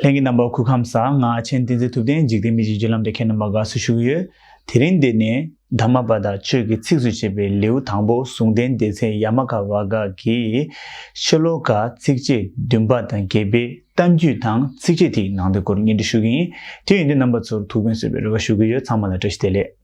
ལྷན་གྱི་རྣམ་པ་ཁུག་ཁམས་བཟང་ང་ཆེན་བསྟན་འཛིན་ཐུབ་བསྟན་འཇིག་རྟེན་མི་འཇིག་བརྒྱུད་ལམ་དེ་མཁས་རྣམ་པ་དགའ་བསུ་ཞུ་ཡོད། དེ་རིང་འདི་ནས་དར་མ་པ་དང་ཆོས་ཀྱི་ཚིགས་སུ་བཅད་པའི་ལེའུ་དང་པོ་ཟུང་ལྡན་སྡེ་ཚན་ཡ་མ་ག་བ་ག་གི་ཤེ་ལོ་ཀ་ཚིགས་བཅད་བདུན་པ་དང་བརྒྱད་པའི་གཏམ་རྒྱུད་དང་ཚིགས་བཅད་དེའི་ནང་དོན་སྐོར་སྙན་སྒྲོན་ཞུ་གི་ཡིན། དེ་ཡིན་དུས་རྣམ་པ་ཚོར་ཐུགས་ཕན་གསོས་པའི་རེ་བ་ཞུ་གི་ཡོད་ཚང་མ་ལ་བཀྲ་ཤིས་བདེ་ལེགས།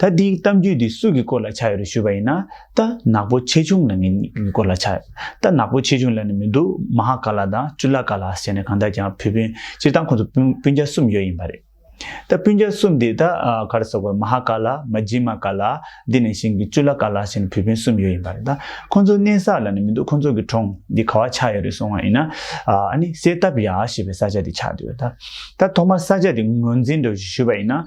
ད་འདིའི་གཏམ་རྒྱུད་འདི་སུ་གི་སྐོར་ལ་ཆགས་ཡོད་རེད་ཞུས་པ་ཡིན་ན། རྟ་ནག་པོ་ཆེ་ཆུང་ལ་ངའི་སྐོར་ལ་ཆགས་ཡོད། རྟ་ནག་པོ་ཆེ་ཆུང་ལ་ནི་མི་འདུག་མ་ཧཱ་ཀཱ་ལ་དང་ཅུ་ལ་ཀཱ་ལ་ཟེར་ནས་གང་དག་ཀྱང་བུ་སྤུན་སྤྱིར་བཏང་ཁོང་ཚོ་སྤུན་རྒྱ་གསུམ་ཡོད་ཡིན་པ་རེད། ད་སྤུན་རྒྱ་གསུམ་དེ་ད་ག་རེ་ཟེར་དགོས་མ་ཧཱ་ཀཱ་ལ་མ་ཇི་མ་ཀཱ་ལ་དེ་ནས་བཞིན་གྱི་ཅུ་ལ་ཀཱ་ལ་ཟེར་ནས་བུ་སྤུན་གསུམ་ཡོད་ཡིན་པ་རེད་ད་ཁོང་ཚོ་གནས་ས་ལ་ནི་མི་འདུག་ཁོང་ཚོ་གི་གྲོང་འདི་ག་བ་ཆགས་ཡོད་རེད་སོང་བ་ཡིན་ན། ཨ་ནི་སེ་ཏབ་ཡ་ཞེས་པའི་ས་ཆ་དེ་ཆགས་འདུག་ད་ཐོག་མར་ས་ཆ་དེ་ངོས་འཛིན་འགྲོ་ཞུས་པ་ཡིན་ན།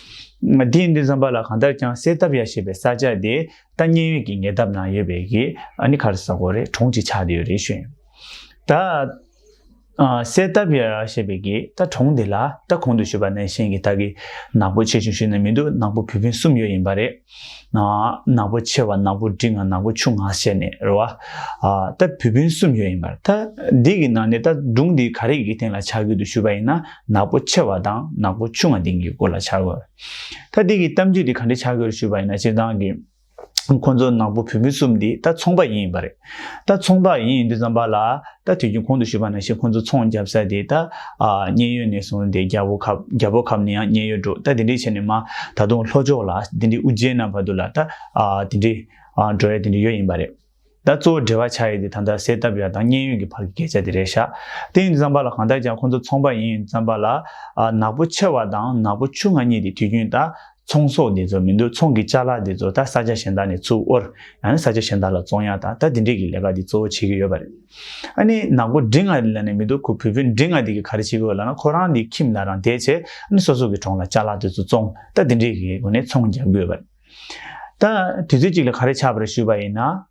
དེ་ཡིན་དུས་འཛམ་བག་ལ་གང་ལྟར་ཀྱང་གསལ་བཏབ་ཡ་ཞེས་པའི་ས་ཆ་དེ་ལྟ་ཉེན་ཡོད་ཀྱི་ཉེ་འདབས་ན་ཡོད་པའི་གི་ཨ་ནི་གྷར་ས་གོ་རེ་གྲོང་ཅིག་ཆགས་བསྡད་ཡོད་རེད་ཤོད། ད་གསལ་བཏབ་ཡ་ཞེས་པའི་གི་ད་གྲོང་དེ་ལ་ད་གོང་དུ་ཞུས་པ་ནས་བཞིན་གི་ད་གི་ནག་པོ་ཆེ་ཆུང་ཞིག་ནི་མི་འདུག་ནག་པོ་བུ་སྤུན་གསུམ་ཡོད་ཡིན་པ་རེད། ནག་པོ་ཆེ་བ་ནག་པོ་འབྲིང་ང་ནག་པོ་ཆུང་ང་ཞེས་ནས་རོ། ད་བུ་བུན་གསུམ་ཡོད་ཡིན་པར་ད་འདི་གི་ནང་ནས་ད་སྒྲུང་འདི་ག་རེ་ཡི་གེ་སྟེང་ལ་ཆ་དགོས་འདུག་ཞུས་པ་ཡིན་ན་ནག་པོ་ཆེ་བ་དང་ནག་པོ་ཆུང་ང་སྟེང་གི་སྐོར་ལ་ཆ་དགོས། ད་འདི་གི་གཏམ་རྒྱུད་འདི་ག་འདྲས་ཆ་དགོས་རེད་ཞུས་པ་ཡིན་ན་སྤྱིར་བཏང་གི་ཁོང་ཚོ་ནག་པོ་བུ་བུན་གསུམ་འདི་ད་ཚོང་པ་ཡིན་ཡིན་པ་རེད། ད་ཚོང་བདག་ཡིན་འདི་ཙམ་པ་ལ་ད་དུས་རྒྱུན་ཁོང་དུ་བཞུགས་པ་ན་ཞེས་ཁོང་ཚོ་ཚོང་བརྒྱབ་ས་དེ་ད་མཉན་ཡོད་ནས་བཟུང་སྟེ་རྒྱ་བོ་ཁབ་རྒྱ་བོ་ཁབ་ནས་ཡང་མཉན་ཡོད་འགྲོ་ད་དེ་འདྲས་བྱས་ནས་མ་ད་དུང་ལྷོ་ཕྱོགས་ལ་དེ་འདྲས་དབུ་རྗེས་ན་བར་དུ་ལ་ད་དེ་འདྲས་འགྲོ་ཡ་དེ་འདྲས་ཡོད་ཡིན་པ་རེད། ད་གཙོ་བོ་འབྲེལ་བ་ཆགས་ཡོད་དེ་ད་ལྟ་གསལ་བཏབ་ཡ་དང་མཉན་ཡོད་ཀྱི་བར་གྱི་སྐད་ཆ་དེ་རེད་ཤག་དེ་ཡིན་འདི་ཙམ་པ་ལ་གང་ལྟར་ཀྱང་ཁོང་ཚོ་ཚོང་བདག་ཡིན་འདི་ཙམ་པ་ལ་ནག་པོ་ཆེ་བ་དང་ནག་པོ་ཆུང་ང་གཉིས་དེ་དུས་རྒྱུན་ད་ཚོང་ཟོག་འདི་ཚོ་མི་འདུག་ཚོང་གི་བཅའ་ལག་འདི་ཚོ་ད་ས་ཆ་གཞན་དག་ནས་ཚུར་དབོར། ཡང་ན་ས་ཆ་གཞན་དག་ལ་ཙོང་ཡག་དང་ད་འདི་འདྲས་ཀྱི་ལས་ཀ་འདི་གཙོ་བོ་བྱེད་ཀྱི་ཡོད་པ་རེད། ཨ་ནི་ནག་པོ་འབྲི་ང་རི་ལ་ནས་མི་འདུག་ཁོ་བུ་བུ་འབྲི་ང་འདི་གི་ག་རེ་བྱེད་ཀྱི་ཡོད་ལ་ན་ཁོ་རང་འདི་ཁྱིམ་ལ་རང་དེད་བྱེད་ཨ་ནི་སོ་སོ་གི་གྲོང་ལ་བཅའ་ལག་འདི་ཚོ་ཙོང་ད་འདི་འདྲས་ཀྱི་སྒོ་ནས་ཚོང་རྒྱག་གི་ཡོད་པ་རེད། ད་དུས་ཚོད་ཅིག་ལ་ག་རེ་ཆགས་པ་རེད་ཞུས་པ་ཡིན་ན།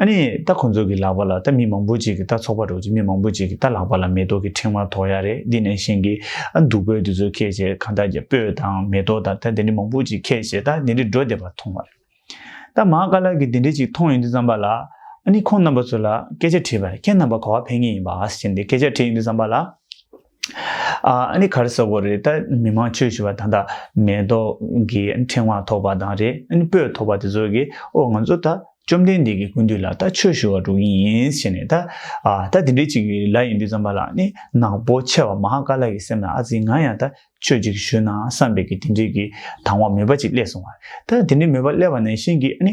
ཨ་ནི་ད་ཁོང་ཚོ་གི་ལག་པ་ལ་ད་མི་མང་པོ་ཅིག་གི་ད་ཚོགས་པ་འགྲོ་ཅིག་མི་མང་པོ་ཅིག་གི་ད་ལག་པ་ལ་མེ་ཏོག་གི་ཕྲེང་བ་ཐོགས་ཡ་རེད་འདི་ནས་བཞེངས་གི་ཨ་འདུག་པོད་དེ་ཚོ་ཁད་བྱས་གང་ད་རྒྱ་སྤོས་དང་མེ་ཏོག་དང་ད་དེ་འདྲི་མང་པོ་ཅིག་ཁད་བྱས་ད་དེ་འདྲི་འགྲོ་བསྡད་པ་མཐོང་བ་རེད་ད་མང་དཀར་ལགས་གི་དེ་འདྲི་ཅིག་མཐོང་ཡོང་དུས་བསམ་པ་ལ་ཨ་ནི་ཁོང་རྣམ་པ་ཚོ་ལ་སྐད་ཆ་དྲིས་པ་རེད་ཁྱེད་རྣམ་པ་ག་བ་ཕན་ངེས་ཡིན་པ་ཨ་ཟེར་གྱིན་དེ་སྐད་ཆ་དྲིས་ཡོང་དུས་བསམ་པ་ལ། ཨ་ནི་གར་བསགས་པོ་རེད་ད་མི་མང་ཆོས་ཞུ་བ་ད་ད་མེ་ཏོག་གི་ཕྲེང་བ་ཐོགས་པ་དང་རེ་ཨ་ནི་སྤོས་ཐོགས་པ་དེ་ཚོ་གིས་ཨོ་ང་ཚོ་ད་བཅོམ་ལྡན་འདས་ཀྱི་སྐུ་འདུས་ལ་ད་ཆོས་ཞུ་བ་འགྲོ་གིན་ཡིན་ཞེས་ནས་ད་ཨ་ད་དེ་འདྲའི་ཅིག་གི་ལ་ཡིན་དུས་ཙམ་པ་ལ་ཨ་ནི་ནག་པོ་ཆེ་བ་མ་ཧཱ་ཀཱ་ལ་ཡི་སེམས་ལ་ཨ་ཙི་ང་ཡང་ད་ཆོས་ཅིག་ཞུས་ན་བསམ་པས་ཀྱི་དེ་འདྲའི་གི་དང་བ་མོས་པ་ཅིག་སླེས་སོང་བ་རེད་ད་དེ་འདྲའི་མོས་པ་སླེས་པ་ནས་བཞིན་གྱི་ཨ་ནི།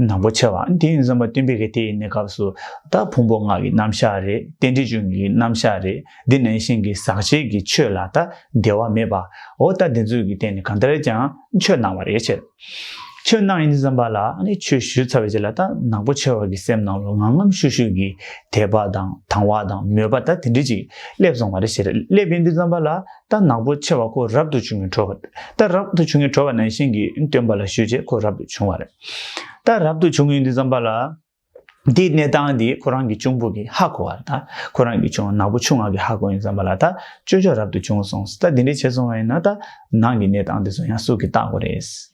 ནག་པོ་ཆེ་བ་འདི་ཡིན་བསམ་པ་སྟོན་པའི་གེགས་དེ་ཡིན་ནི་སྐབས་སུ་དག་ཕུང་པོ་སྔགས་ཀྱི་རྣམ་གཞག་རེད་རྟེན་འབྲེལ་ཅུང་གི་རྣམ་གཞག་རེད་འདི་ནང་བཞིན་གྱི་ཟག་བཅས་ཀྱི་ཆོས་ལ་ད་བདེ་བ་མེད་པའོ་ལྟ་བདེ་མཛོད་ཀྱི་སྟེང་ནས་གང་ལྟར་ཀྱང་ཆོས་སྣང་བ་རེད་ཕྱིར། ཆོས་སྣང་ཡིན་བསམ་པ་ལ་ཆོས་བཞུ་ཚར་བའི་རྗེས་ལ་ད་ནག་པོ་ཆེ་བ་གི་སེམས་ནང་ལོ་ངམ་ངམ་ཤུགས་ཤུགས་ཀྱིས་དད་པ་དང་དང་བ་དང་མོས་པ་ད་དེ་འདྲས་ཅིག་སླེབས་སོང་བ་རེད་ཕྱིར་སླེབས་ཡིན་དུས་བསམ་པ་ལ་རྟ་ནག་པོ་ཆེ་བ་ཁོ་རབ་ཏུ་བྱུང་བའི་བྲོ་བ། རྟ་རབ་ཏུ་བྱུང་བའི་བྲོ་བ་ནང་བཞིན་གྱི་སྟོན་པ་ལ་ཞུས་རྗེས་ཁོ་རབ་ཏུ་བྱུང་བ་རེད། རྟ་རབ་ཏུ་བྱུང་གི་འདི་བརྩམས་པ་ལ། འདིའི་གནས་སྟངས་འདི་ཁོ་རང་གི་གཅུང་པོ་གི་ཧ་གོ་བ་རེད། ཁོ་རང་གི་གཅུང་ནག་པོ་ཆུང་ང་གི་ཧ་གོ་ཡིན་བརྩམས་པ་ལ་རྟ་ཅོ་ཅོ་རབ་ཏུ་བྱུང་སོང་ཟེར་རྟ་འདི་འདྲའི་བྱེད་སོང་བ་ཡིན་ན་རྟ་ནག་གི་གནས་སྟངས་འདི་ཚོ་ཡང་སུ་གི་རྟགས་གོ་རེད།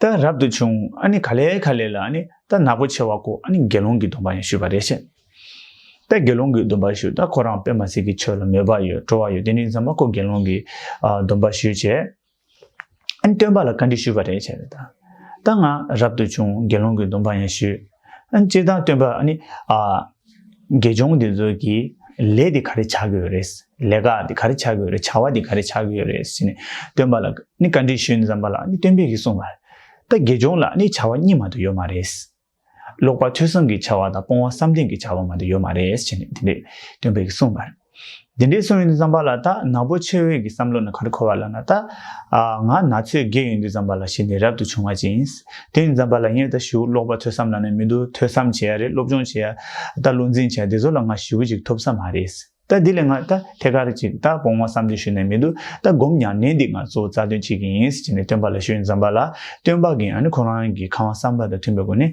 ད་རབ་ཏུ་བྱུང་ཨ་ནི་ག་ལེ་ག་ལེ་ལ་ཨ་ནི་ད་ནག་པོ་ཆེ་བ་ཀོ་ཨ་ནི་དགེ་སློང་གི་སྡོམ་པ་ཡང་ཞུས་པ་རེ་བྱས། ད་དགེ་སློང་གི་སྡོམ་པ་ཞུས་ད་ཁོ་རང་པད་མ་སི་གི་ཆོས་ལ་མོས་པ་ཡོད་སྤྲོ་བ་ཡོད་དེ་ནས་བཟང་མ་ཀོ་དགེ་སློང་གི་སྡོམ་པ་ཞུས་བྱས། ཨ་ནི་སྟོན་པ་ལ་བཀའ་འདྲི་ཞུས་པ་རེ་བྱས། ད་ང་རབ་ཏུ་བྱུང་དགེ་སློང་གི་སྡོམ་པ་ཡང་ཞུས། ཨ་ནི་ཅིར་སྟངས་སྟོན་པ་ཨ་ནི་ཨ། དགེ་སྦྱོང་དེ་ཚོ་གི་ལས་དེ་ག་རེ་བྱ་གི་ཡོད་རེད། ལས་ཀ་དེ་ག་རེ་བྱ་གི་ཡོད་རེད་བྱ་བ་དེ་ག་རེ་བྱ་གི་ཡོད་རེད་ཟེར་ནས་སྟོན་པ་ལ་ནི་བཀའ་འདྲི་ཞུས་ནས་བརྩམས་པ་ལ་ནི་སྟོན་པས་གིས་གསུངས་པ། ད་དགེ་སྦྱོང་ལ་ནི་བྱ་བ་གཉིས་མ་དུ་ཡོད་མ་རེད། ལོག་པར་ཐོས་བསམ་གྱི་བྱ་བ་དང་སྤོང་བ་བསམ་གཏན་གྱི་བྱ་བ་མ་དུ་ཡོད་མ་རེད་ཟེར་ནས་དེ་འདྲས་སྟོན་པས་གིས་གསུངས་པ། དེ་འདྲའི་གསུང་ཡོད་དུ་བརྩམས་པ་ལ་ད་ནག་པོ་ཆོས་འོད་ཀྱི་བསམ་བློ་ནི་གར་འཁོར་བ་ལ་ན་ད་ང་ན་ཚོས་བགད་ཡོད་དུ་བརྩམས་པ་ལ་ཞེས་ནི་རབ་ཏུ་བྱུང་བ་ཅན། དེ་ཡིན་བརྩམས་པ་ལ་ངས་ད་ཞི་བོ་ཀློག་པ་ཐོས་བསམ་ལ་ནི་མི་འདུག་ཐོས་བསམ་བྱས་ཡ་རེད་སློབ་སྦྱོང་བྱས་ཡ་ད་བློ་འཛིན་བྱས་ཡ་དེ་ཚོ་ལ་ང་ཞི་བོ་ཅིག་ཐོབ་ས་མ་རེད། ད་འདི་ལས་ང་ད་ཐད་ཀར་ཅིག་ད་བོང་བ་བསམ་དོན་ཞུ་ནས་མི་འདུག་ད་སྒོམ་ཡང་ནས་འདི་ང་ཚོ་རྩ་དོན་བྱེད་ཀྱི་ཡིན་ཅེས་ནི་སྟོན་པ་ལ་ཞུ་ཡོད་དུ་བརྩམས་པ་ལ་སྟོན་པ་གིས་ཡང་ནི་ཁོ་རང་གི་ཁང་བ་བསམ་པ་དང་མཐུན་པའི་སྒོ་ནས་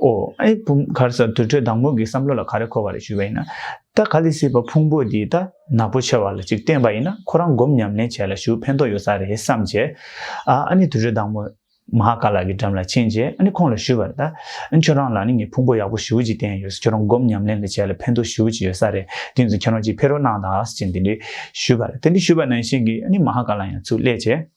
ཨོ་ཨེ་བུམ་གར་ས་དུར་ཁྲོད་བདག་མོ་གི་བསམ་བློ་ལ་ག་རེ་འཁོར་བ་རེད་ཞུས་པ་ཡིན་ན། ད་ག་ལི་སྲིད་པ་ཕུང་པོ་འདི་ད་ནག་པོ་ཆེ་བ་ལ་ཅིག་བསྟན་པ་ཡིན་ན་ཁོ་རང་སྒོམ་ཉམས་ལེན་བྱས་ལ་ཞུ་ཕན་ཐོག་ཡོད་ས་རེད་བསམ་བྱས། ཨ་ཨ་ནི་དུར་ཁྲོད་བདག་མོ། མ་ཧཱ་ཀཱ་ལ་གི་འགྲམ་ལ་ཕྱིན་རྗེས་ཨ་ནི་ཁོང་ལ་ཞུས་པར། ད་ཁྱོད་རང་ལ་ནི་ངས་ཕུང་པོ་ཡག་པོ་ཞུ་ཅིག་བསྟན་ཡོད་ས་ཁྱོད་རང་སྒོམ་ཉམས་ལེན་ལ་བྱས་ལ་ཕན་ཐོག་ཞུ་ཅིག་ཡོད་ས་རེད་དེ་ཚོ་ཁྱེད་རང་ཅིག་ཕེ་རོ་གནང་ད་ཨ་ཟེར་ཅིག་འདི་འདྲི་ཞུས་པར་དེ་འདྲི་ཞུས་པ་ནང་བཞིན་གྱིས་ཨ་ནི་མ་ཧཱ་ཀཱ་ལ་ཡང་ཚུར་སླེབས་བྱས།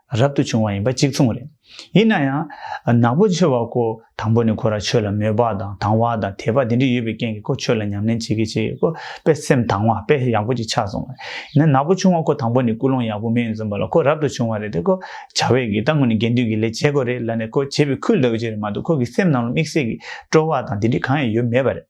རབ་ཏུ་བྱུང་བ་ཡིན་པ་གཅིག་མཚུངས་རེད། ཡིན་ན་ཡང། ནག་པོ་ཆེ་བ་ཁོ་དང་པོ་ནས་ཁོ་རང་ཆོས་ལ་མོས་པ་དང་དང་བ་དང་དད་པ་དེ་འདྲ་ཡོད་པའི་རྐྱེན་གྱིས་ཁོ་ཆོས་ལ་ཉམས་ལེན་བྱེད་ཀྱི་བྱེད་ཡོད་ཁོ་པས་སེམས་དང་བ་དཔེ་ཡག་པོ་ཅིག་ཆགས་སོང་བ་རེད། ཡིན་ན་ནག་པོ་ཆུང་བ་ཁོ་དང་པོ་ནས་ཀུན་སློང་ཡག་པོ་མེད་འཛོམས་པ་ལ་ཁོ་རབ་ཏུ་བྱུང་བ་རེད་དེ་ཁོ་བྱ་བའི་གི་ད་ངོ་ནས་དགེ་འདུན་གྱི་ལས་བྱེད་དགོས་རེད་ལབ་ནས་ཁོ་བྱེད་པའི་ཁུལ་ལབ་ཀྱི་རེད་མ་གཏོགས་ཁོ་གི་སེམས་ནང་ལ་དམིགས་བསལ་གྱི་སྤྲོ་བ་དང་དེ་འདྲའི་གང་ཡང་ཡོད་མེད་པ་རེད།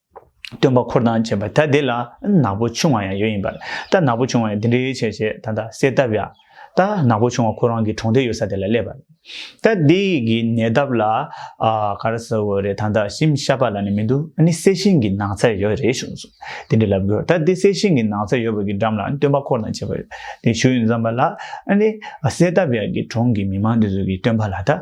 སྟོན་པ་འཁོར་དང་བཅས་པ་ད་དེ་ལ་ནག་པོ་ཆུང་བ་ཡང་ཡོད་ཡིན་པར་ད་ནག་པོ་ཆུང་བ་ཡང་འདི་འདྲའི་ཆེ་ཞེས་ད་ལྟ་གསལ་བཏབ་ཡ། ད་ནག་པོ་ཆུང་བ་ཁོ་རང་གི་གྲོང་དེ་ཡོད་ས་དེ་ལ་སླེབས་པར། ད་དེ་གི་ནད་འདབ་ལ་ག་ར་ས་བོ་རེད་ད་ད་ཤིམ་ཤ་པ་ལ་ནི་མི་འདུག་ཨ་ནི་གསལ་ཤིང་གི་ནགས་ཚལ་ཡོད་རེད་བྱུང་སོང་དེ་འདྲ་ལབ་དགོས་ད་དེ་གསལ་ཤིང་གི་ནགས་ཚལ་ཡོད་པ་གི་འགྲམ་ལ་སྟོན་པ་འཁོར་དང་བཅས་པ་ཡོད་དེ་བྱུང་ཡོད་མཚམས་པ་ལ་ཨ་ནི་གསལ་བཏབ་ཡ་གི་གྲོང་གི་མི་མང་དེ་ཚོ་གི་སྟོན་པ་ལ་ད།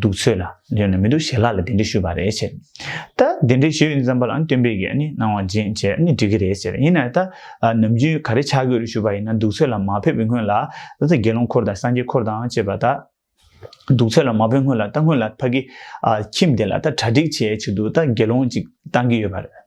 འདུག་ཚོད་ལ་ལོན་ནི་མི་འདུག་ཞེས་ལྷ་ལ་དེ་འདྲི་ཞུས་པ་རེད་ཟེར། ད་དེ་འདྲི་ཞུས་ཡིན་བསམ་པ་ལ་སྟོན་པས་ཀྱིས་གནང་བ་འབྱིན་བྱས་ནས་འགྲིག་གི་རེད་ཟེར་ཡིན་ནའི་ད་ནམ་རྒྱུན་ག་རེ་བྱ་དགོས་རེད་ཞུས་པ་ཡིན་ན་འདུག་ཚོད་ལ་མ་ཕེབས་པའི་སྔོན་ལ་ད་ལྟ་དགེ་སློང་འཁོར་དང་སངས་རྒྱས་འཁོར་དང་བཅས་པ་ད་འདུག་ཚོད་ལ་མ་ཕེབས་སྔོན་ལ་ད་སྔོན་ལ་ཕ་གི་ཁྱིམ་དེ་ལ་ད་གྲ་སྒྲིག་བྱས་ཆུགས་འདུག་ད་དགེ་སློང་ཅིག་བཏང་གི་ཡོད་པ་རེད།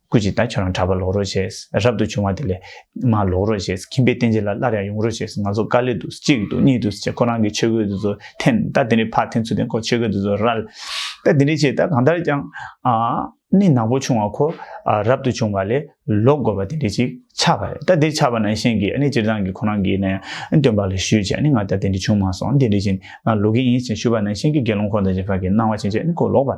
སྐུ་ཅིག་ད་ཁྱོད་རང་གྲྭ་པ་ལོག་རོགས་ཞེས་རབ་ཏུ་བྱུང་བ་དེ་ལས། མ་ལོག་རོགས་ཞེས་ཁྱིམ་པའི་རྟེན་ཅན་ལ་སླར་ཡང་ཡོང་རོགས་ཞེས་ང་ཚོ་དཀའ་ལས་འདུག་གཅིག་འདུག་གཉིས་འདུག་ཅེས་ཁོ་རང་གི་ཆོས་གོས་དེ་ཚོ་འཐེན་ད་དེ་རིང་ཕར་འཐེན་ཚུལ་དེ་ཁོ་ཆོས་གོས་དེ་ཚོ་རལ་ད་དེ་རིང་བྱས་ད་གང་ལྟར་ཀྱང། ནི་ནག་པོ་བྱུང་བ་ཁོ་རབ་ཏུ་བྱུང་བ་ལས་ལོག་དགོས་པ་དེ་འདྲས་ཅིག་ཆགས་པ་རེད་ད་དེ་ཆགས་པ་ན་གཞན་གྱིས་ནི་སྤྱིར་བཏང་གི་ཁོ་རང་གིས་ནི་སྟོན་པ་ལ་ཞུས་བྱས་ནི་ང་ད་དེ་འདྲས་བྱུང་མ་སོང་དེ་འདྲས་ཀྱིས་ནི་ལོག་གི་ཡིན་ཞེས་ཞུས་པ་ན་གཞན་གྱིས་དགེ་སློང་ཁོ་དང་གཞན་དག་གིས་སྣང་བ་བྱས་བྱས་ནི་ཁོ་ལོག་པ།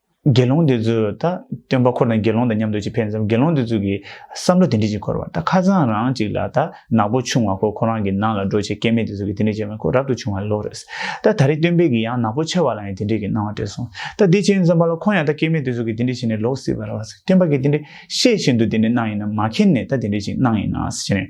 དགེ་སློང་དེ་ཚོས་ད་སྟོན་པ་ཁོ་དང་དགེ་སློང་དང་མཉམ་དུ་ཅིག་ཕེབས་མཚམས་དགེ་སློང་དེ་ཚོས་ཀྱི་བསམ་བློ་དེ་འདྲི་ཅིག་འཁོར་བ་ད་ཁ་ཚང་རང་ཅིག་ལ་ད་ནག་པོ་ཆུང་བ་ཁོ་ཁོ་རང་གི་ནང་ལ་འགྲོ་ཆེད་སྐལ་མེད་དེ་ཚོས་ཀྱི་དེ་འདྲི་བྱས་མོད་ཁོ་རབ་ཏུ་ཆུང་བ་ལོག་རེད། ད་ད་རེས་སྟོན་པས་ཀྱི་ཡང་ནག་པོ་ཆེ་བ་ལ་ཡང་དེ་འདྲི་གི་གནང་བ་དྲན་སོང། ད་དེ་བྱས་མཚམས་པ་ལ་ཁོང་ཡང་ད་སྐལ་མེད་དེ་ཚོས་ཀྱི་དེ་འདྲི་བྱས་ནས་ལོག་སྲིད་པ་རེད་བ། སྟོན་པ་ཀྱི་དེ་འདྲི་ཤེས་བཞིན་དུ་དེ་འདྲི་གནང་ཡིན་ན་མ་མཁྱེན་ནས་ད་དེ་འདྲི་ཅིག་གནང་ཡིན་ནའང་སྲིད་ཀྱི་རེད།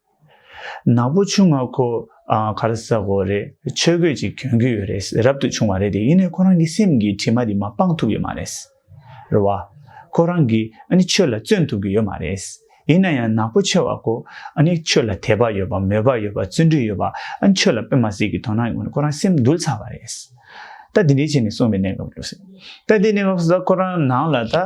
ནག་པོ་ཆུང་ང་ཁོ་ག་རེ་ཟ་གོ་རེད་ཆོས་གོས་ཅིག་གྱོན་གི་ཡོད་རེད་རབ་ཏུ་ཆུང་བ་རེད་དེ་ཡིན་ནས་ཁོ་རང་གི་སེམས་ཀྱི་དྲི་མ་དེ་མ་སྤང་ཐུབ་ཀྱི་མ་རེད། རེད་བ། ཁོ་རང་གི་ནི་ཆོས་ལ་བརྩོན་ཐུབ་ཀྱི་ཡོད་མ་རེད། ཡིན་ན་ཡང་ནག་པོ་ཆེ་བ་ཁོ་ནི་ཆོས་ལ་དད་པ་ཡོད་པ་མོས་པ་ཡོད་པ་བརྩོན་འགྲུས་ཡོད་པ་ཆོས་ལ་དཔེ་མ་ཟིག་གི་དོ་སྣང་ཡོང་ནས་ཁོ་རང་སེམས་འདུལ་ཚར་བ་རེད། ད་དེ་འདྲའི་བྱས་ནས་སོང་བའི་གནས་སྐབས་ལོས། ད་དེ་གནས་སྐབས་སུ་ད་ཁོ་རང་ནང་ལ་ད།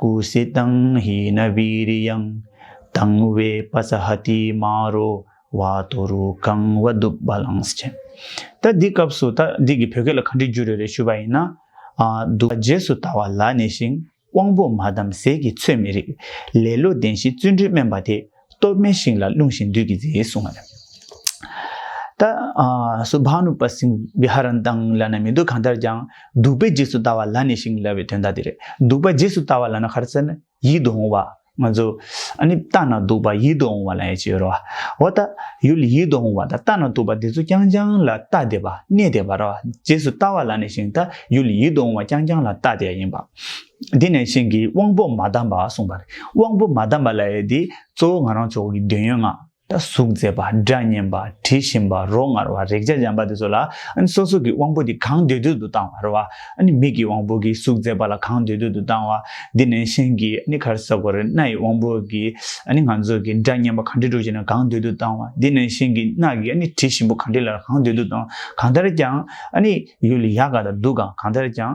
ཀུ་སི་ཏང་ཧི་ན་བི་རི་ཡང། དང་བའི་པ་ས་ཧ་ཏི་མ་རོ་བ་དོ་རུ་ཀང་བ་བདུག་བ་ལངས་ཅན། ད་འདི་སྐབས་སུ་ད་འདི་གི་བོད་སྐད་ལ་ག་འདྲི་རྒྱུ་རེད་རེད་ཞུས་པ་ཡིན་ན། བདུག་བ་རྗེས་སུ་ད་བ་ལ་ནས་ཤིང་དབང་པོ་མ་བསྡམས་ཟས་ཀྱི་ཚོད་མི་རིགས། ལེ་ལོ་ལྡན་ཞིང་བརྩོན་འགྲུས་དམན་པ་དེ། གཏོར་མའི་ཤིང་ལ་རླུང་བཞིན་བདུད་ཀྱིས་མཛེས་གསུང་ངམ། ད་སུ་བྷ་ནུ་པ་སིང་བི་ཧ་རན་དང་ལ་ན་མི་འདུག་གང་ལྟར་ཀྱང་གདུག་པའི་རྗེས་སུ་ལྟ་བ་ལ་ནི་ཤིང་བསླ་བའི་དོན་དག་དེ་རེད་གདུག་པ་རྗེས་སུ་ལྟ་བ་ལ་ན་ཁར་ཙན་ཡིད་དུ་འོང་བ། ང་ཚོ་ཨ་ནི་ལྟ་ན་གདུག་པ་ཡིད་དུ་འོང་བ་ལ་ཡེ་ཅི་ཡོད་རོ། འོ་ལྟ་ཡུལ་ཡིད་དུ་འོང་བ་དང་ལྟ་ན་གདུག་པ་འདི་ཚོ་རྐྱང་རྐྱང་ལ་ལྟ་བདེ་བ་གནས་བདེ་བ་རོ་རྗེས་སུ་ལྟ་བ་ལ་ནི་ཤིང་ལྟ་ཡུལ་ཡིད་དུ་འོང་བ་རྐྱང་རྐྱང་ལ་ལྟ་བདེ་བ་ཡིན་པ། དེ་ནས་གཞན་གྱི་དབང་པོ་མ་བསྡམས་པ་གསུངས་པ། དབང་པོ་མ་བསྡམས་པ་ལ་ཡོད་དེ། གཙོ་བོ་ང་རང་མཆོག་གི་འདོད་ཡོན་ལྔ། གཟུགས་མཛེས་པ་སྒྲ་སྙན་པ་དྲི་ཞིམ་པ་རོ་མངར་བ་རེག་བྱ་འཇམ་པ་དེ་ཚོ་ལ། སོ་སོ་གི་དབང་པོ་དེ་གང་འདོད་འདོད་དུ་བཏང་བ་རེད་བ། མིག་གི་དབང་པོ་གིས་གཟུགས་མཛེས་པ་ལ་གང་འདོད་འདོད་དུ་བཏང་བ། དེ་ནས་གཞན་གྱི་གར་ས་གོ་རེ་སྣ་ཡི་དབང་པོ་གིས་ང་ཚོ་གི་སྒྲ་སྙན་པ་གང་དྲི་རོ་ཅན་ལ་གང་འདོད་དུ་བཏང་བ། དེ་ནས་གཞན་གྱི་སྣ་གིས་དྲི་ཞིམ་པོ་གང་དྲི་ལ་གང་འདོད་དུ་བཏང་བ། གང་ལྟར་ཀྱང། ཡུལ་ཡག་ག་དང་སྡུག་ག་གང་ལྟར་ཀྱང།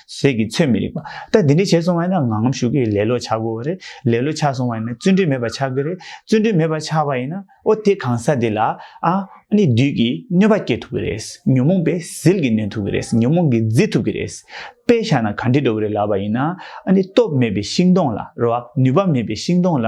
ཟས་ཀྱི་ཚོད་མི་རིགས་པ། ད་འདི་འདྲ་བྱས་སོང་བ་ཡིན་ན་ངང་ངམ་ཞུགས་ཀྱི་ལེ་ལོ་ཆགས་དགོས་བ་རེད། ལེ་ལོ་ཆགས་སོང་བ་ཡིན་ན་བརྩོན་འགྲུས་མེད་པ་ཆགས་ཀྱི་རེད། བརྩོན་འགྲུས་མེད་པ་ཆགས་པ་ཡིན་ན་ཨོ་དེ་གང་ཟག་དེ་ལ་ཨ། ནི་བདུད་ཀྱི་གནོད་པ་སྐྱེ་ཐུབ་ཀྱི་རེད། ཉོན་མོངས་པས་ཟིལ་གྱིས་ནོན་ཐུབ་ཀྱི་རེད་ཉོན་མོངས་ཀྱིས་བརྫི་ཐུབ་ཀྱི་རེད། དཔེ་བཞག་ན་གངས་ཁྲི་འགྲོ་བ་རེད་ལབ་པ་ཡིན་ན་ཨ་ནི་སྟོབས་མེད་པའི་ཤིང་སྡོང་ལ་རོ། ནུས་པ་མེད་པའི་ཤིང་སྡོང་ལ་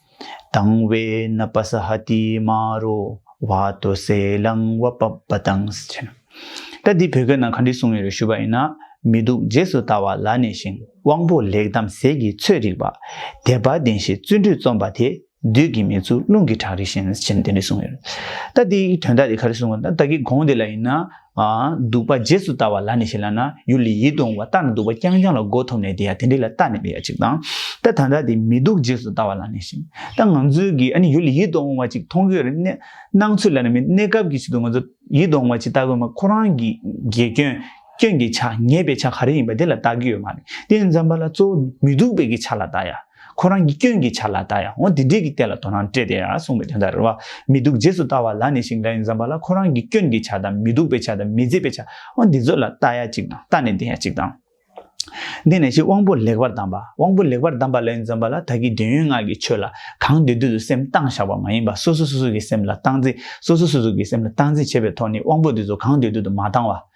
དང་བའི་ན་པ་སྭཱ་ཧཱ་ཏི་མ་རོ་བ་ཏོ་གསལ་ལང་བ་པ་པ་དང། ད་འདི་བོད་སྐད་ནང་ག་འདྲི་གསུང་ཡོད་རེད་ཞུ་བ་ཡིན་ན་མི་འདུག་རྗེས་སུ་ལྟ་བ་ལ་ནས་ཤིང་དབང་པོ་ལེགས་གདམ་གསེས་ཀྱི་ཚོད་རིག་པ་དད་པ་ལྡན་ཞེས་བརྩོན་འགྲུས་རྩོམ་པ་དེ་བདུད་ཀྱི་མིག་ཆུ་རླུང་གི་བྲག་རི་བཞིན་ཅེས་ནས་དེ་འདྲི་གསུང་ཡོད་རེད་ད་འདི་དོན་དག་དེ་ག་རེ་གསུང་ད་ད་གི་དགོངས་དེ་ལ་ཡིན་ན་འདུག་པ་རྗེས་སུ་ལྟ་བ་ལ་ནི་ཞེས་ལབ་ན་ཡུལ་ལས་ཡིད་འོང་བ་བརྟགས་ནས་འདུག་པ་རྐྱང་རྐྱང་ལ་མགོ་འཐོམས་ནས་དེ་ཡང་དེ་འདྲས་ལ་བརྟགས་ནས་པའི་ཡ་གཅིག་དང། ད་ད་ལྟ་དེ་མི་འདུག་རྗེས་སུ་ལྟ་བ་ལ་ནི་ཞེས་ད་ང་ཚོའི་གིས་ཨ་ནི་ཡུལ་ལས་ཡིད་དུ་འོང་བ་ཅིག་མཐོང་གི་རེད་སྣང་ཚུལ་ལ་ནི་མིན་གནས་སྐབས་ཀྱི་ཆེད་དུ་ང་ཚོ་ཡིད་དུ་འོང་བ་ཅིག་བལྟ་དགོས་མ་ཁོ་རང་གི་དགེ་སྐྱོན་སྐྱོན་གྱི་ཆ་ངེས་པའི་ཆ་ག་རེ་ཡིན་པ་དེ་ལ་བལྟ་གི་ཡོད་མ་རེད་དེ་འཇམ་པ་ལ་གཙོ་བོ་མི་འདུག་པའི་གི་ཆ་ལ་བལྟ་ཡ། ཁོ་རང་གི་སྐྱོན་གྱི་ཆ་ལ་ད་ཡང་འོ་དེ་འདྲས་ཀྱི་ལྟས་ལ་དོ་སྣང་སྤྲད་དེ་གསུངས་པའི་དོན་དག་རེད་བ། མི་སྡུག་རྗེས་སུ་ལྟ་བ་ལ་ནི་ཞིང་འདྲ་ཡིན་བསམ་པ་ལ་ཁོ་རང་གི་སྐྱོན་གྱི་ཆ་དང་མི་སྡུག་པའི་ཆ་དང་མི་མཛེས་པའི་ཆ་འོ་འདི་ཚོ་ལ་ལྟ་ཡ་གཅིག་དང་ལྟ་ནས་བདེན་ཡ་གཅིག་དང། དེ་ནས་ཞིག་དབང་པོ་ལེགས་པར་བསྡམས་པ་དབང་པོ་ལེགས་པར་བསྡམས་པ་ལ་ཡིན་བསམ་པ་ལ་ད་གིས་འདོད་ཡོན་ལྔ་གི་ཆོས་ལ་གང་འདོད་དུས་སུ་སེམས་གཏང་བཞག་པ་མ་ཡིན་པ་སོ་སོ་སོ་སོ་གྱི་སེམས་ལ་སྟངས་འཛིན་སོ་སོ་སོ་སོ་གྱི་སེམས་ལ་སྟངས་འཛིན་བྱེད་པའི་ཐོག་ནས་དབང་པོ་དེ་ཚོ་གང་འདོད་དུས་དུ་མ་བཏང་བ།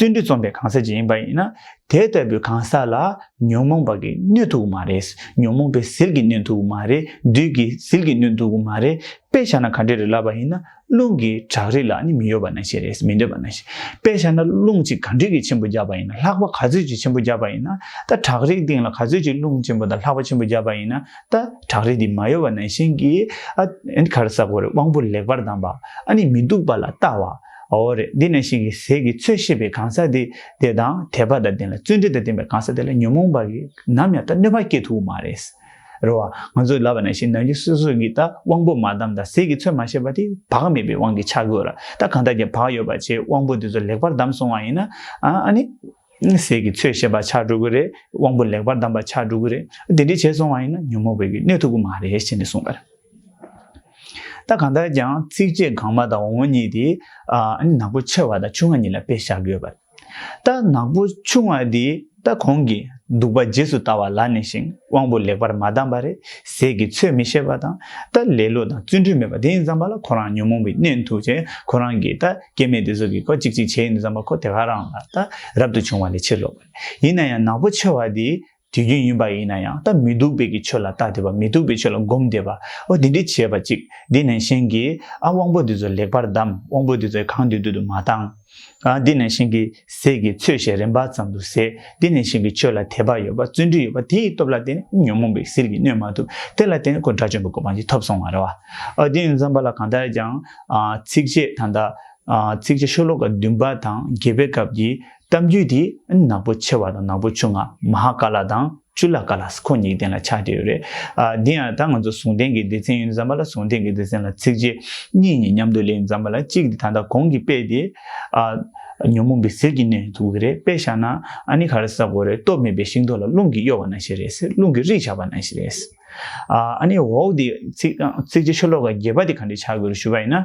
བརྩོན་འགྲུས་རྩོམ་པའི་གང་ཟག་ཅིག་ཡིན་པ་ཡིན་ན། དེ་ལྟ་བུའི་གང་ཟག་ལ་ཉོན་མོངས་པ་གིས་གནོད་ཐུབ་མ་རེད། ཉོན་མོངས་པའི་ཟིལ་གྱིས་གནོན་ཐུབ་མ་རེད། བདུད་ཀྱི་ཟིལ་གྱིས་གནོན་ཐུབ་མ་རེད། དཔེ་ཆ་ན་ག་འདྲའི་རི་ལ་བ་ཡིན་ན་རླུང་གི་བྲག་རི་ལ་ནི་མི་གཡོ་བ་ན་ཞེ་རེད་མི་འདོད་པ་ན་ཞེ། དཔེ་ཆ་ན་རླུང་གཅིག་ག་འདྲིས་ཀྱི་ཆེན་པོ་བརྒྱབ་པ་ཡིན་ན་ལྷགས་པ་ག་ཚོད་ཅིག་ཆེན་པོ་བརྒྱབ་པ་ཡིན་ན་ད་བྲག་རིའི་སྟེང་ལ་ག་ཚོད་ཅིག་རླུང་ཆེན་པོ་དང་ལྷགས་པ་ཆེན་པོ་བརྒྱབ་པ་ཡིན་ན་ད་བྲག་རི་དེ་མ་གཡོ་བ་ན་བཞིན་གྱིས། ཨ། གར་ས་གོ་རེ་དབང་པོ་ལེགས་པར་ལྡང་པ། ཨ་ནི་མི་སྡུག་པ་ལ་ལྟ་བ། འོ་རེད་འདི་ནས་ཤིང་གི་ཟས་ཀྱི་ཚོད་ཤེས་པའི་གང་ཟག་དེ་དེ་དང་དད་པ་དང་ལྡན་ལ་བརྩོན་འགྲུས་དང་ལྡན་པའི་གང་ཟག་དེ་ལ་ཉོན་མོངས་པ་གིས་ནམ་ཡང་ད་གནོད་པ་སྐྱེད་ཐུབ་མ་རེད། རེད་བ། ང་ཚོས་ལབ་པ་ནང་བཞིན་ནང་བཞིན་སོ་སོ་གིས་ད་དབང་པོ་མ་བསྡམས་དང་ཟས་ཀྱི་ཚོད་མ་ཤེས་པ་དེ་བག་མེད་པའི་དབང་གིས་ཆགས་དགོས་ལ་ད་གང་ལྟར་གྱི་བག་ཡོད་པ་བྱས་དབང་པོ་དེ་ཚོ་ལེགས་པར་བསྡམས་སོང་བ་ཡིན་ན། ཨ་ཨ་ནི། ཟས་ཀྱི་ཚོད་ཤེས་པ་ཆགས་འགྲོ་གི་རེད་དབང་པོ་ལེགས་པར་བསྡམས་པ་ཆགས་འགྲོ་གི་རེད་དེ་འདྲས་བྱས་སོང་བ་ཡིན་ན་ཉོན་མོངས་པའི་གནས་ཐུབ་ཀྱི་མ་རེད་ཞེས་ནས་གསུངས་པ་རེད། ད་གང་ལྟར་ཀྱང་ཚིགས་བཅད་གང་མ་དང་འོག་མ་གཉིས་དེ་ནག་པོ་ཆེ་བ་དང་ཆུང་བ་གཉིས་ལ་དཔེ་བཞག་གི་ཡོད་པ་རེད། ད་ནག་པོ་ཆུང་བ་དེ་ད་གོང་གི་གདུག་པ་རྗེས་སུ་ལྟ་བ་ལ་ནས་ཤིང་དབང་པོ་ལེགས་པར་མ་བསྡམས་པ་རེད་ཟས་ཀྱི་ཚོད་མི་ཤེས་པ་དང་ད་ལེ་ལོ་དང་བརྩོན་འགྲུས་མེད་པ་དེ་ཡིན་བསམ་པ་ལ་ཁོ་རང་ཉོན་མོངས་པའི་གནས་འཐུག་ཅེས་ཁོ་རང་གིས་ད་སྐྱེ་མེད་དུ་གཟུགས་ཀྱི་གོ་ཅིག་ཅིག་བྱེད་ཡིན་དུ་བསམ་པ་ཁོ་དེ་ག་རང་ལ་ད་རབ་ཏུ་བྱུང་བ་ལས་ཕྱིར་ལོག་པ་ལས། ཡིན་ན་ཡང་ནག་པོ་ཆེ་བ་དེ་དུས་རྒྱུན་ཡིན་པ་ཡིན་ན་ཡང་ད་མི་སྡུག་པའི་ཀྱི་ཆོས་ལ་བརྟགས་དེ་བ་མི་སྡུག་པའི་ཆོས་ལ་བསྒོམ་བདེ་བ་འོ་དེ་འདྲི་བྱས་པ་ཅིག་དེ་ནས་གཞན་གྱིས་ཨ་དབང་པོ་འདི་ཚོ་ལེགས་པར་བསྡམས་དབང་པོ་འདི་ཚོའི་གང་དུས་དུས་དུ་མ་བཏང། ཨ་དེ་ནས་གཞན་གྱིས། ཟས་ཀྱི་ཚོད་ཞེས་རིམ་པ་ཙམ་དུ་ཟད་དེ་ནས་ཞིང་གི་ཆོས་ལ་དད་པ་ཡོད་པ་བརྩོན་འགྲུས་ཡོད་པ་དེ་ཡི་སྟོབས་ལ་བརྟེན་ནས་ཉོན་མོངས་པའི་ཟིལ་གྱིས་གནོན་མ་ཐུབ་དེ་ལ་བརྟེན་ནས་ཁོ་དགྲ་བཅོམ་པའི་གོ་འཕང་ཅི་ཐོབ་སོང་བ་རེད། ཨོ་དེ་ཡང་འཛོམས་པ་ལ་གང་ལྟར་ཀྱང། ཚིགས་བཅད་ད་ལྟ། ཚིགས་བཅད་ཤོ་ལོ་ཀ་བདུན་པ་དང་བརྒྱད་པའི་སྐབས་ཀྱི་གཏམ་རྒྱུད་དེ་ནག་པོ་ཆེ་བ་དང་ནག་པོ་ཆུང་ང་མ་ཧཱ་ཀཱ་ལ་དང། བཅུ་ལ་ཀ་ལ་སི་ཁོ་གཉིས་གདན་ལ་ཆགས་ཀྱི་ཡོད་རེད། འདི་ཡང་ད་ང་ཚོ་ཟུང་ལྡན་གྱི་སྡེ་ཚན་ཡིན་ཙང་མ་ལ་ཟུང་ལྡན་གྱི་སྡེ་ཚན་ལ་ཚིགས་བཅད་གཉིས་གཉིས་མཉམ་དུ་གླེང་ཙང་མ་ལ་གཅིག་དེ་ད་ལྟ་གོང་གི་དཔེ་དེ། ཉོན་མོངས་པའི་ཟེར་གྱི་གནས་འདུག་གི་རེད་དཔེ་བཞག་ན་ཨ་ནི་ག་རེ་ཟ་གོ་རེད་སྟོབས་མེད་པའི་ཤིང་ཏོག་ལ་རླུང་གིས་གཡོ་བ་ན་ཞེས་རེད་རླུང་གིས་རིག་ཆགས་པ་ན་ཞེས་རེད། ཨ་ནི་འོག་དེ་ཚིགས་བཅད་ཆུ་ལོག་ག་རྒྱས་པ་དེ་ག་འདྲས་ཆགས་དགོས་རེད་ཞུ་བ་ཡིན་ན།